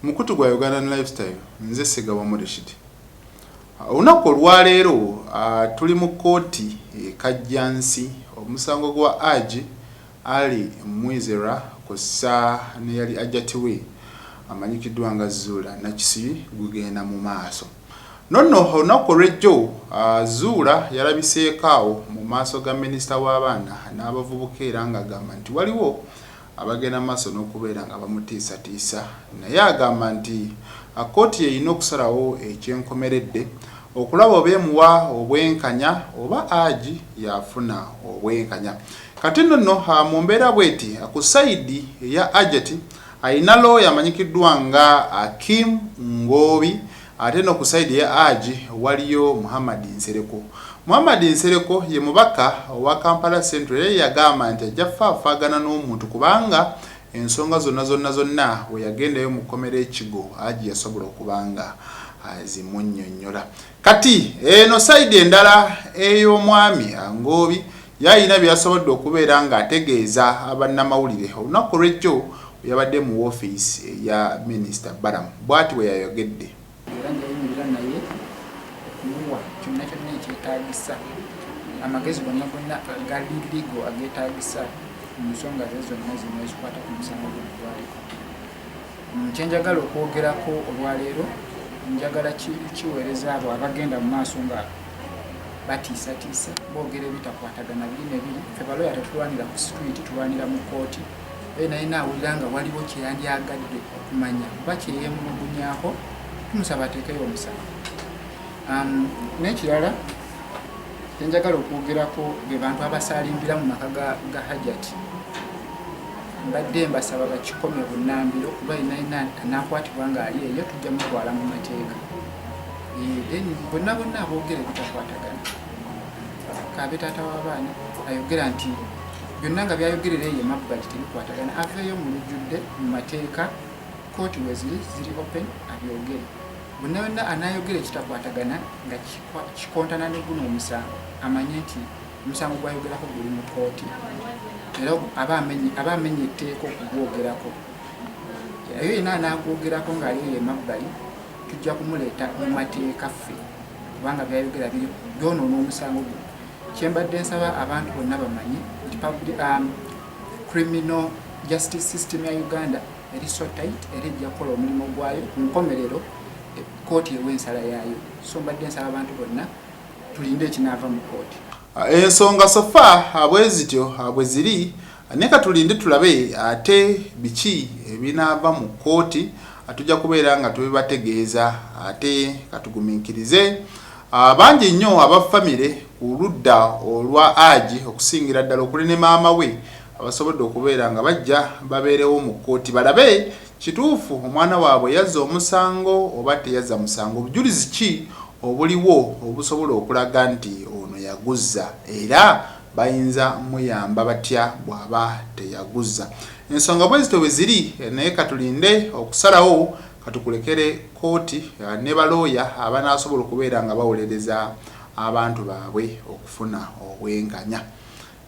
mukutu gwa ugandan lifestyle nze segaba murishidi olunaku olwaleero ah, tuli mu kkooti ekajjansi omusango gwa aji ali mwizera kussa neyali ajatiwe amanyikiddwa nga zuula nakisi gugenda mu maaso No no olunaku olw'ejjo Zuula yalabiseeko awo mu maaso ga Minisita w'abaana n'abavubuka era ng'agamba nti waliwo abagenda maaso n'okubeera nga bamutiisatiisa naye agamba nti kkooti y'erina okusalawo eky'enkomeredde okulaba oba emuwa obwenkanya oba Agi y'afuna obwenkanya. Kati no no mu mbeera bweti ku sayidi eya Ajati, Alina looya amanyikiddwa nga Akim Ngoobi ate eno ku sayidi eya Haji waliyo Muhammad Nsereko. Muhammad Nsereko ye mubaka owa Kampala Central era ye yagamba nti ajja kufaafaagana n'omuntu kubanga ensonga zonna zonna zonna bwe yagendayo mu kkomera e Kigo Haji yasobola okuba nga azimunnyonnyola. Kati eno sayidi endala ey'omwami Angoobi yalina bye yasobodde okubeera ng'ategeeza bannamawulire olunaku olw'ejjo bwe yabadde mu woofiisi eya minisita Balamu bwati bwe yayogedde. Era njayimirira naye okumuwa kyonna kyonna ekyetaagisa amagezi gonna gonna agali ligo ageetaagisa mu nsonga ze zonna zino ezikwata ku musango gwe gwaliko. Mm, kye njagala okwogerako olwaleero njagala kiweereza abo abagenda mu maaso nga batiisatiisa boogera ebitakwatagana biri nebiri fe baloya tetulwanira ku situiti tulwanira mu kooti e naye naawulira nga waliwo kyeyandyagadde okumanya oba kyeyemulugunyako tumusaba ateekeyo omusango um, n'ekirala Enjagala okwogerako be bantu abasaalimbira mu maka ga Hajati mbadde mbasaba bakikome bunambiro kuba inaina anakwatibwa ng'ali eyo tujja mutwala mu mateeka then bonna bonna aboogera ebitakwatagana kabe taata w'abaana ayogera nti byonna nga byayogerera eyo emabbali tebikwatagana aveeyo mu lujjudde mu mateeka kooti weziri ziri open abyogere Bonna yonna anaayogera ekitakwatagana nga kikontana ne guno omusango amanye nti omusango gwayogerako guli mu kkooti era aba amenye etteeka okugwogerako. Eyo yenna anaagwogerako ng'aliyo emabbali tujja kumuleeta mu mateeka ffe kubanga byayogera biri byonoona omusango gwe kyembadde nsaba abantu bonna bamanye nti um, criminal justice system ya uganda eri so tight era ejja kukola omulimu gwayo ku nkomerero kooti ewa ensala yaayo so mbadde nsaba abantu bonna tulinde ekinaava mu kooti ah, ensonga sofa abwezityo ah, abwe ah, ziri neka tulinde tulabe ate biki ebinaava mu kooti tujja kubeera nga tubibategeeza ate katugumiikirize bangi nnyo aba famire ku ludda olwa agi okusingira ddala okuli ne maama we abasobodde okubeera nga bajja babeerewo mu kkooti balabe kituufu omwana waabwe yazza omusango oba teyazza musango, bujulizi ki obuliwo obusobola okulaga nti ono yaguzza era bayinza muyamba batya bw'aba teyaguzza. Ensonga bwe zityo bwe ziri naye ka tulinde okusalawo ka tukulekere kkooti ne balooya abanaasobola okubeera nga bawolereza abantu baabwe okufuna obwenkanya.